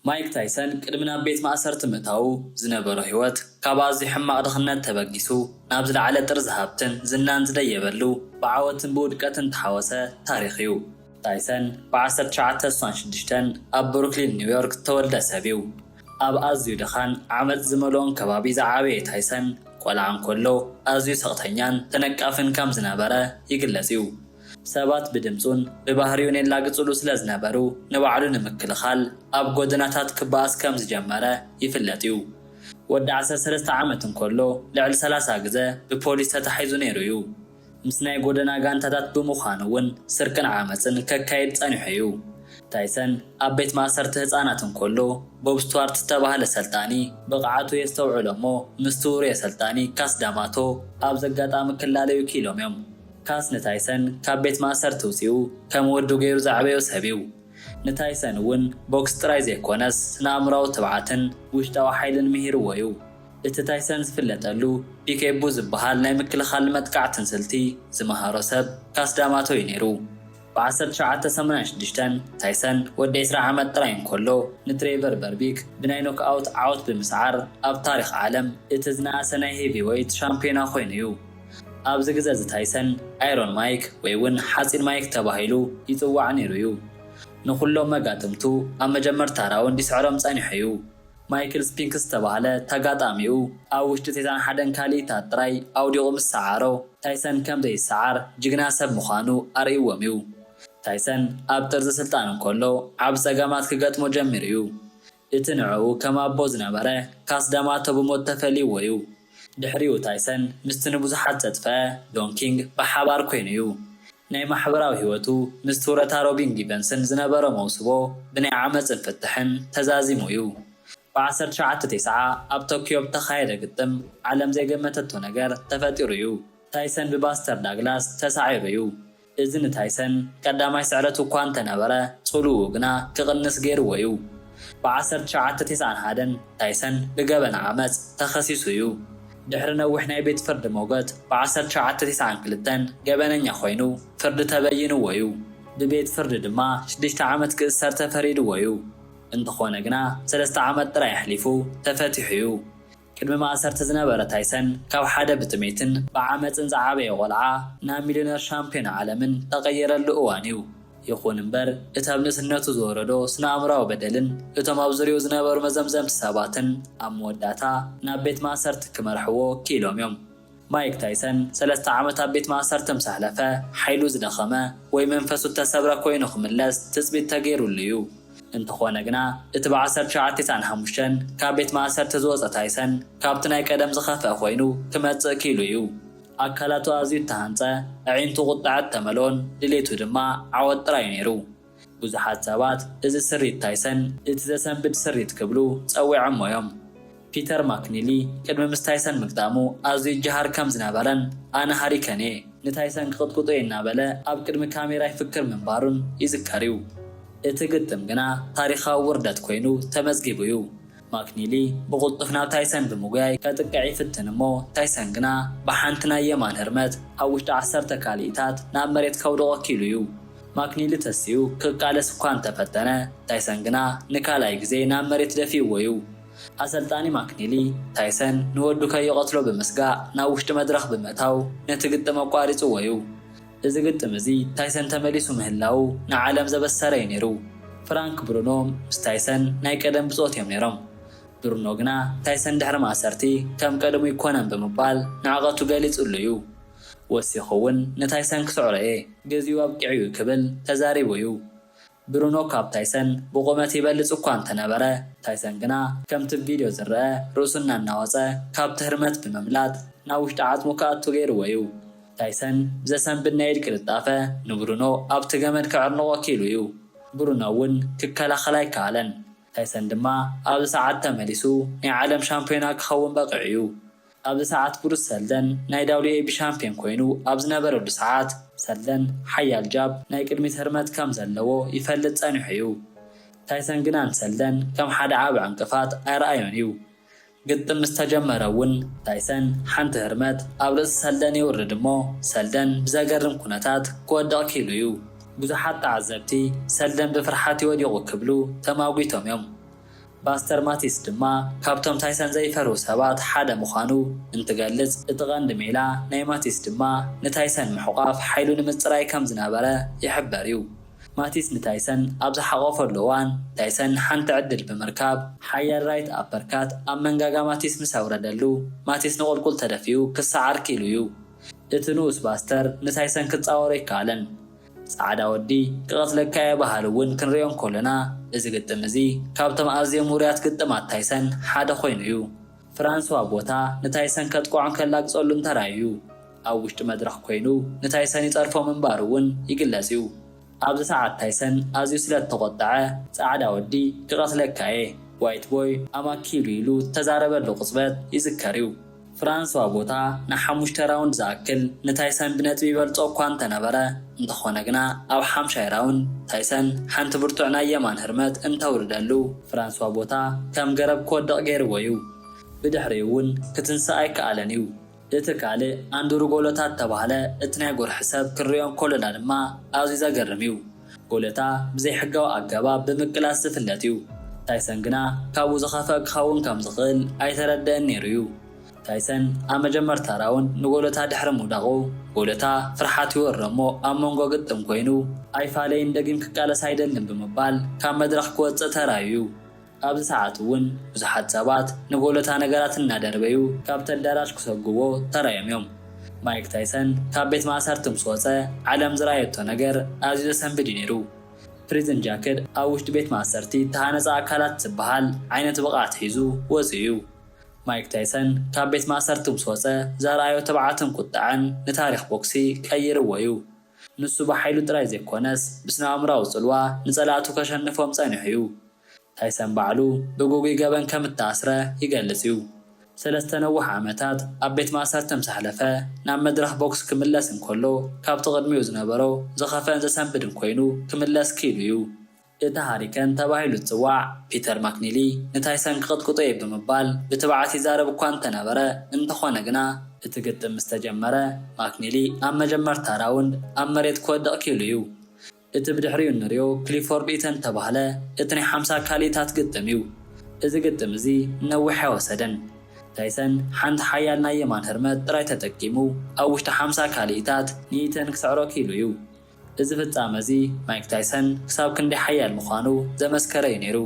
ማይክ ታይሰን ቅድሚ ናብ ቤት ማእሰርቲ ምእታዉ ዝነበሮ ህይወት፣ ካብ ኣዝዩ ሕማቕ ድኽነት ተበጊሱ ናብ ዝለዓለ ጥርዚ ሃብትን ዝናን ዝደየበሉ ብዓወትን ብውድቀትን እተሓወሰ ታሪኽ እዩ። ታይሰን ብ ዓሰርተ ትሽዓተ ስሳን ሽዱሽተን ኣብ ብሩክሊን ኒውዮርክ ዝተወልደ ሰብ እዩ። ኣብ ኣዝዩ ድኻን ዓመጽ ዝመልኦን ከባቢ ዝዓበየ ታይሰን፣ ቆልዓ እንከሎ ኣዝዩ ስቕተኛን ተነቃፍን ከም ዝነበረ ይግለጽ እዩ። ሰባት ብድምጹን ብባህሪኡን የላግጹሉ ስለ ዝነበሩ ንባዕሉ ንምክልኻል ኣብ ጎደናታት ክበኣስ ከም ዝጀመረ ይፍለጥ'ዩ። ወዲ ዓሰርተ ሰለስተ ዓመት እንከሎ ልዕሊ ሰላሳ ግዘ ብፖሊስ ተታሒዙ ነይሩ'ዩ። ምስ ናይ ጎደና ጋንታታት ብምዃን'ውን ስርቅን ዓመጽን ከካይድ ጸኒሑ'ዩ። ታይሰን ኣብ ቤት ማእሰርቲ ህጻናት እንከሎ ቦብ ስትዋርት ዝተባህለ ሰልጣኒ፣ ብቕዓቱ የስተውዕሎ'ሞ ምስቲ ውሩየ ሰልጣኒ ካስ ዳማቶ ኣብ ዘጋጣሚ ክላለዩ ክኢሎም'ዮም። ካስ ንታይሰን ካብ ቤት ማእሰርቲ ኣውጺኡ ከም ወዱ ገይሩ ዘዕበዮ ሰብ'ዩ። ንታይሰን እውን ቦክስ ጥራይ ዘይኰነስ ስነ-ኣእምሮኣዊ ትብዓትን ውሽጣዊ ሓይልን ምሂርዎ'ዩ። እቲ ታይሰን ዝፍለጠሉ ፒኬቡ ዝበሃል ናይ ምክልኻልን መጥቃዕትን ስልቲ ዝመሃሮ ሰብ ካስ ዳማቶ'ዩ ነይሩ። ብ ዓሰርተ ትሽዓተ ሰማንያ ሽዱሽተ፣ ታይሰን ወዲ ዕስራ ዓመት ጥራይ እንከሎ ንትሬቨር በርቢክ ብናይ ኖክኣውት ዓወት ብምስዓር ኣብ ታሪኽ ዓለም እቲ ዝነኣሰ ናይ ሄቪዌይት ሻምፕዮና ኮይኑ'ዩ። ኣብዚ ግዘ'ዚ ታይሰን ኣይሮን ማይክ ወይ'ውን ሓጺን ማይክ ተባሂሉ ይጽዋዕ ነይሩ'ዩ። ንኹሎም መጋጥምቱ ኣብ መጀመርታ ራውንድ ይስዕሮም ጸኒሑ'ዩ። ማይክል ስፒንክስ ዝተባህለ ተጋጣሚኡ ኣብ ውሽጢ ቴታን ሓደን ካልኢታት ጥራይ ኣውዲቑ ምስ ሰዓሮ፣ ታይሰን ከም ዘይሰዓር ጅግና ሰብ ምዃኑ ኣርእይዎም'ዩ። ታይሰን ኣብ ጥርዚ ስልጣኑ እንከሎ ዓቢ ጸገማት ክገጥሞ ጀሚሩ'ዩ። እቲ ንዕኡ ከም ኣቦ ዝነበረ ካስ ዳማቶ ብሞት ተፈልይዎ'ዩ። ድሕሪኡ ታይሰን ምስቲ ንብዙሓት ዘጥፍአ ዶን ኪንግ ብሓባር ኮይኑ'ዩ ናይ ማሕበራዊ ህይወቱ ምስ ቱረታ ሮቢን ጊቨንስን ዝነበሮ መውስቦ ብናይ ዓመጽን ፍትሕን ተዛዚሙ እዩ። ብ ዓሰርተ ትሽዓተ ቴስዓ ኣብ ቶክዮ ብተኻየደ ግጥም ዓለም ዘይገመተቶ ነገር ተፈጢሩ እዩ። ታይሰን ብባስተር ዳግላስ ተሳዒሩ እዩ። እዚ ንታይሰን ቀዳማይ ስዕረቱ እኳ እንተነበረ ጽልውኡ ግና ክቕንስ ገይርዎ እዩ። ብ ዓሰርተ ትሽዓተ ቴስዓን ሓደን ታይሰን ብገበን ዓመጽ ተኸሲሱ እዩ። ድሕሪ ነዊሕ ናይ ቤት ፍርዲ ሞገት ብ ዓሰርተ ሸውዓተ ቴስዓን ክልተን ገበነኛ ኮይኑ ፍርዲ ተበይንዎ ዩ። ብቤት ፍርዲ ድማ ሽዱሽተ ዓመት ክእሰር ተፈሪድዎ ዩ። እንተኾነ ግና ሰለስተ ዓመት ጥራይ ኣሕሊፉ ተፈቲሑ ዩ። ቅድሚ ማእሰርቲ ዝነበረ ታይሰን ካብ ሓደ ብጥሜትን ብዓመጽን ዝዓበየ ቆልዓ ናብ ሚልዮነር ሻምፕዮን ዓለምን ተቐየረሉ እዋን ዩ። ይኹን እምበር፣ እቲ ኣብ ንእስነቱ ዝወረዶ ስነ-ኣእምሮኣዊ በደልን እቶም ኣብ ዙርያኡ ዝነበሩ መዘምዘምቲ ሰባትን ኣብ መወዳእታ ናብ ቤት ማእሰርቲ ክመርሕዎ ክኢሎም እዮም። ማይክ ታይሰን ሰለስተ ዓመት ኣብ ቤት ማእሰርቲ ምስ ኣሕለፈ፣ ሓይሉ ዝደኸመ ወይ መንፈሱ እተሰብረ ኰይኑ ክምለስ ትጽቢት ተገይሩሉ እዩ። እንተዀነ ግና፣ እቲ ብ ዓሰርተ ትሽዓተ ቲስዓን ሓሙሽተን ካብ ቤት ማእሰርቲ ዝወጸ ታይሰን ካብቲ ናይ ቀደም ዝኸፍአ ኰይኑ ክመጽእ ክኢሉ እዩ። ኣካላቱ ኣዝዩ እተሃንጸ፣ ኣዒንቱ ቍጥዐ እተመልኦን ድሌቱ ድማ ዓወት ጥራይ እዩ ነይሩ። ብዙሓት ሰባት እዚ ስሪት ታይሰን እቲ ዘሰንብድ ስሪት ክብሉ ጸዊዖሞ እዮም። ፒተር ማክኒሊ ቅድሚ ምስ ታይሰን ምግጣሙ ኣዝዩ ይጀሃር ከም ዝነበረን ኣነ ሃሪከን እየ፣ ንታይሰን ክቕጥቅጦ እየ እናበለ ኣብ ቅድሚ ካሜራ ይፍክር ምንባሩን ይዝከር እዩ። እቲ ግጥም ግና ታሪኻዊ ውርደት ኰይኑ ተመዝጊቡ እዩ። ማክኒሊ ብቕልጡፍ ናብ ታይሰን ብምጉያይ ከጥቅዕ ይፍትን እሞ ታይሰን ግና ብሓንቲ ናይ የማን ህርመት ኣብ ውሽጢ ዓሰርተ ካልኢታት ናብ መሬት ከውድቖ ኪኢሉ እዩ። ማክኒሊ ተሲኡ ክቃለስ እኳ እንተ ፈተነ፣ ታይሰን ግና ንካልኣይ ግዜ ናብ መሬት ደፊኡዎ እዩ። ኣሰልጣኒ ማክኒሊ፣ ታይሰን ንወዱ ከይቐትሎ ብምስጋእ ናብ ውሽጢ መድረኽ ብምእታው ነቲ ግጥም ኣቋሪጹዎ እዩ። እዚ ግጥም እዚ ታይሰን ተመሊሱ ምህላዉ ንዓለም ዘበሰረ እዩ ነይሩ። ፍራንክ ብሩኖ ምስ ታይሰን ናይ ቀደም ብጾት እዮም ነይሮም። ብሩኖ ግና ታይሰን ድሕሪ ማእሰርቲ ከም ቀደሙ ኣይኰነን ብምባል ንዕቐቱ ገሊጽሉ እዩ። ወሲኹ'ውን ንታይሰን ክስዕሮ እየ። ግዜኡ ኣብቂዑ'ዩ ክብል ተዛሪቡ እዩ። ብሩኖ ካብ ታይሰን ብቑመት ይበልጽ እኳ እንተነበረ፣ ታይሰን ግና ከምቲ ኣብ ቪድዮ ዝርኣ ርእሱ እናናወጸ ካብቲ ህርመት ብምምላጥ ናብ ውሽጢ ዓጽሙ ክኣቱ ገይርዎ'ዩ። ታይሰን ብዘሰንብድ ናይ ኢድ ቅልጣፈ ንብሩኖ ኣብቲ ገመድ ከዕርንቖ ክኢሉ'ዩ። ብሩኖ'ውን ክከላኸል ኣይከኣለን። ታይሰን ድማ ኣብዚ ሰዓት ተመሊሱ ናይ ዓለም ሻምፕዮና ክኸውን በቒዑ'ዩ። ኣብዚ ሰዓት ብሩስ ሰልደን ናይ WAB ሻምፕዮን ኮይኑ ኣብ ዝነበረሉ ሰዓት፣ ሰልደን ሓያል ጃብ፣ ናይ ቅድሚት ህርመት፣ ከም ዘለዎ ይፈልጥ ጸኒሑ እዩ። ታይሰን ግና ንሰልደን ከም ሓደ ዓቢ ዕንቅፋት ኣይረኣዮን እዩ። ግጥም ምስ ተጀመረ እውን ታይሰን ሓንቲ ህርመት ኣብ ርእሲ ሰልደን የውርድ እሞ ሰልደን ብዘገርም ኩነታት ክወድቕ ክኢሉ እዩ። ብዙሓት ተዓዘብቲ ሰልደን ብፍርሓት እዩ ወዲቑ ክብሉ ተማጒቶም እዮም። ፓስተር ማቲስ ድማ ካብቶም ታይሰን ዘይፈርሁ ሰባት ሓደ ምዃኑ እንትገልጽ፣ እቲ ቀንዲ ሜላ ናይ ማቲስ ድማ ንታይሰን ምሕቋፍ ሓይሉ ንምጽራይ ከም ዝነበረ ይሕበር'ዩ። ማቲስ ንታይሰን ኣብ ዝሓቖፈሉ እዋን፣ ታይሰን ሓንቲ ዕድል ብምርካብ፣ ሓያል ራይት ኣፐርካት ኣብ መንጋጋ ማቲስ ምስ ኣውረደሉ፣ ማቲስ ንቑልቁል ተደፊኡ ክሰዓር ክኢሉ'ዩ። እቲ ንኡስ ፓስተር ንታይሰን ክጻወሮ ኣይከኣለን። ጻዕዳ ወዲ ክቐትለካ'የ በሃሊ እውን ክንርእዮ እንከሎና፣ እዚ ግጥም እዚ ካብቶም ኣዝዮም ውሩያት ግጥማት ታይሰን ሓደ ኮይኑ እዩ። ፍራንስዋ ቦታ ንታይሰን ከጥቅዖን ከላግጸሉን ተራእዩ። ኣብ ውሽጢ መድረኽ ኮይኑ ንታይሰን ይጸርፎ ምንባሩ እውን ይግለጽ እዩ። ኣብዚ ሰዓት ታይሰን ኣዝዩ ስለ እተቖጠዐ፣ ጻዕዳ ወዲ ክቐትለካ'የ፣ ዋይት ቦይ ኣም ኣ ኪል ኢሉ እተዛረበሉ ቅጽበት ይዝከር እዩ። ፍራንስዋ ቦታ ንሓሙሽተ ራውንድ ዝኣክል ንታይሰን ብነጥቢ ይበልጾ እኳ እንተነበረ፣ እንተኾነ ግና ኣብ ሓምሻይ ራውንድ ታይሰን ሓንቲ ብርቱዕ ናይ የማን ህርመት እንተውርደሉ፣ ፍራንስዋ ቦታ ከም ገረብ ክወድቕ ገይርዎ እዩ፣ ብድሕሪኡ እውን ክትንሳእ ኣይከኣለን እዩ። እቲ ካልእ ኣንድሩ ጎሎታት እተባህለ እቲ ናይ ጎርሒ ሰብ ክንርእዮ እንከሎና ድማ ኣዝዩ ዘገርም እዩ። ጎለታ ብዘይሕጋዊ ኣገባብ ብምቅላስ ዝፍለጥ እዩ። ታይሰን ግና ካብኡ ዝኸፍኣ ክኸውን ከም ዝኽእል ኣይተረድእን ነይሩ እዩ። ታይሰን ኣብ መጀመርታ ራውንድ ንጎለታ ድሕሪ ምውዳቑ፣ ጎለታ ፍርሓት ይወሮ እሞ ኣብ መንጎ ግጥም ኮይኑ፣ ኣይፋለይን ደጊም ክቃለስ ኣይደልን ብምባል ካብ መድረኽ ክወጽእ ተራእዩ እዩ። ኣብዚ ሰዓት እውን ብዙሓት ሰባት ንጎለታ ነገራት እናደርበዩ ካብቲ ኣዳራሽ ክሰጉዎ ተራእዮም እዮም። ማይክ ታይሰን ካብ ቤት ማእሰርቲ ምስ ወጸ ዓለም ዝረኣየቶ ነገር ኣዝዩ ዘሰንብድ እዩ ነይሩ። ፕሪዝን ጃክድ ኣብ ውሽጢ ቤት ማእሰርቲ እተሃነጸ ኣካላት ዝበሃል ዓይነት ብቕዓት ሒዙ ወጺኡ እዩ። ማይክ ታይሰን ካብ ቤት ማእሰርቲ ምስ ወጸ ዘርኣዮ ትብዓትን ቁጠዐን ንታሪኽ ቦክሲ ቀይርዎ እዩ። ንሱ ብሓይሉ ጥራይ ዘይኮነስ ብስነ-ኣእምሮኣዊ ጽልዋ ንጸላእቱ ከሸንፎም ጸኒሑ እዩ። ታይሰን ባዕሉ ብግጉይ ገበን ከም እተኣስረ ይገልጽ እዩ። ሰለስተ ነዋሕ ዓመታት ኣብ ቤት ማእሰርቲ ምስ ኣሕለፈ፣ ናብ መድረኽ ቦክስ ክምለስ እንከሎ ካብቲ ቅድሚኡ ዝነበሮ ዝኸፍአን ዘሰንብድን ኰይኑ ክምለስ ክኢሉ እዩ። እቲ ሃሪከን ተባሂሉ ዝጽዋዕ ፒተር ማክኒሊ ንታይሰን ክቕጥቅጦ እየ ብምባል ብትብዓት ይዛረብ እኳ እንተነበረ፣ እንተዀነ ግና፣ እቲ ግጥም ምስ ተጀመረ ማክኒሊ ኣብ መጀመርታ ራውንድ ኣብ መሬት ክወድቕ ክኢሉ እዩ። እቲ ብድሕሪኡ እንርእዮ ክሊፎርድ ኢተን እተባህለ እቲ ናይ ሓምሳ ካልኢታት ግጥም እዩ። እዚ ግጥም እዚ ነዊሕ ኣይወሰደን። ታይሰን ሓንቲ ሓያል ናይ የማን ህርመት ጥራይ ተጠቂሙ ኣብ ውሽጢ ሓምሳ ካልኢታት ንኢተን ክስዕሮ ክኢሉ እዩ። እዚ ፍጻመ እዚ ማይክ ታይሰን ክሳብ ክንደይ ሓያል ምዃኑ ዘመስከረ እዩ ነይሩ።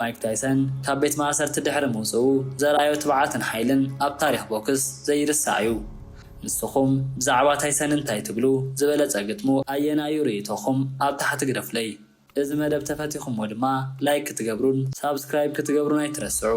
ማይክ ታይሰን ካብ ቤት ማእሰርቲ ድሕሪ ምውጽኡ ዘርኣዮ ትብዓትን ሓይልን ኣብ ታሪኽ ቦክስ ዘይርሳዕ እዩ። ንስኹም ብዛዕባ ታይሰን እንታይ ትብሉ? ዝበለጸ ግጥሙ ኣየናይ እዩ ርእይቶኹም ኣብ ታሕቲ ግደፉለይ። እዚ መደብ ተፈቲኹሞ ድማ ላይክ ክትገብሩን ሳብስክራይብ ክትገብሩን ኣይትረስዑ።